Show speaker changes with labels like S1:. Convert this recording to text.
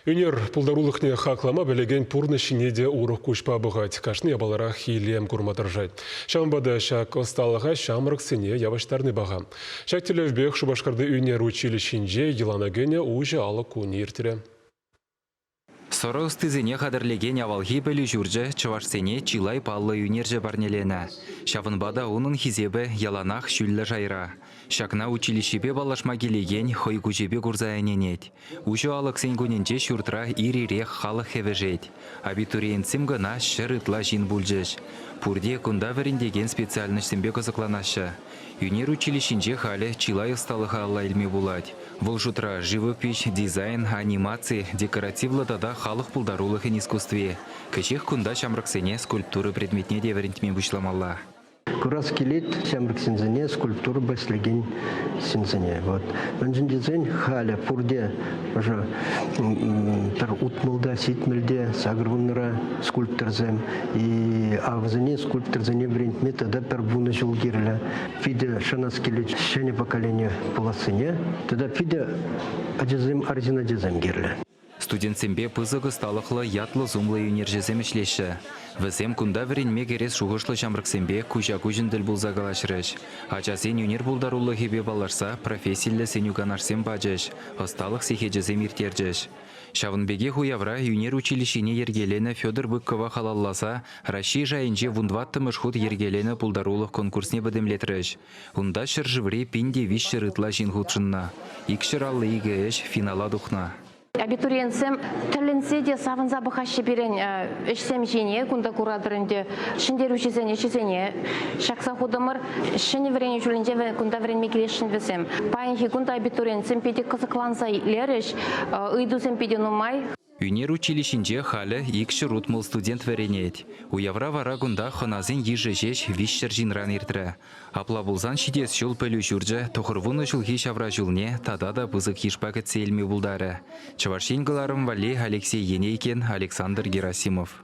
S1: Ӳнер пултарулӑхне хаклама пӗлекен пурнӑҫ ҫине те урӑх куҫпа пӑхать, кашни япаларах илем курма тӑрӑшать. Ҫавӑнпа та ҫак ӑсталӑха ҫамрӑксене явӑҫтарни паха. Ҫак тӗллевпех Шупашкарти ӳнер училищинче йӑлана кӗнӗ уҫӑ алӑк кунӗ иртрӗ.
S2: Сӑрӑ ӑстисене хатӗрлекен авалхи пӗлӳ ҫурчӗ чӑвашсене чылай паллӑ ӳнерҫӗ парнеленӗ. Ҫавӑнпа та унӑн хисепӗ яланах ҫӳллӗ шайра. Ҫакна училищӗпе паллашма килекен хӑй куҫӗпе курса ӗненет. Уҫӑ алӑксен кунӗнче ҫуртра ир-ирех халӑх хӗвӗшет. Абитуриентсем кӑна ҫӗр ытла ҫын пулчӗҫ. Пурте кунта вӗрентекен специальноҫсемпе кӑсӑкланаҫҫӗ. Ӳнер училищинче халӗ чылай ӑсталӑха алла илме пулать. Вӑл шутра живопиҫ, дизайн, анимаци, декоративлӑ тата халӑх пултарулӑхӗн искусстви. Кӗҫех кунта ҫамрӑксене скульптура предметне те вӗрентме пуҫламалла. Курас
S3: килет ҫамрӑк ҫынсене, скульптурӑпа ӗҫлекен ҫынсене. Вот. Мӗншӗн тесен халӗ пурте ӑшӑ пӗр утмӑлта, ситмӗлте, сакӑрвуннӑра скульпторсем. И авӑсене скульпторсене вӗрентме тата пӗр вунӑ ҫул кирлӗ. Питӗ шанас килет ҫӗнӗ поколение пулассине. Тата питӗ ачасем, арҫын ачасем кирлӗ. Студентсемпе
S2: пысӑк ӑсталӑхлӑ, ятлӑ-сумлӑ ӳнерҫӗсем ӗҫлеҫҫӗ. Вӗсем кунта вӗренме кӗрес шухӑшлӑ ҫамрӑксемпе куҫа-куҫӑн тӗл пулса калаҫрӗҫ, ачасен ӳнер пултарулӑхӗпе паллашса профессиллӗ сӗнӳ-канашсем пачӗҫ, ӑсталӑх сехечӗсем ирттерчӗҫ. Ҫавӑн пекех уявра ӳнер училищине йӗркеленӗ Федор Быкова халалласа Раҫҫей шайӗнче вун тӑваттӑмӗш хут йӗркеленӗ пултарулӑх конкурсне пӗтӗмлетрӗҫ. Унта ҫӗршыври пин те виҫҫӗр ытла ҫын хутшӑннӑ. Икҫӗр алли икӗ ӗҫ финала тухнӑ. Абитуриентсем
S4: тӗлӗнсе те савӑнса пӑхаҫҫӗ пирӗн ӗҫсем ҫине. Кунта куратӑр ӗнтӗ ҫӗнтерӳҫӗсен ӗҫӗсене ҫакса хутӑмӑр. Ҫӗнӗ вӗренӳ ҫулӗнче кунта вӗренме килесшӗн вӗсем. Паянхи кун та абитуриентсем питӗ кӑсӑкланса итлерӗҫ, ыйтусем питӗ нумай. Ӳнер училищинче
S2: халӗ ик ҫӗр утмӑл студент вӗренет. Уявра вара кунта хӑнасен йышӗ ҫеҫ виҫҫӗр ҫынран иртрӗ. Апла пулсан ҫитес ҫул пӗлӳ ҫурчӗ тӑхӑрвунӑ ҫулхи ҫавра ҫулне тата та пысӑк йышпа кӗтсе илме пултарӗ. Чӑваш Ен кӑларӑм валли Алексей Енейкин, Александр Герасимов.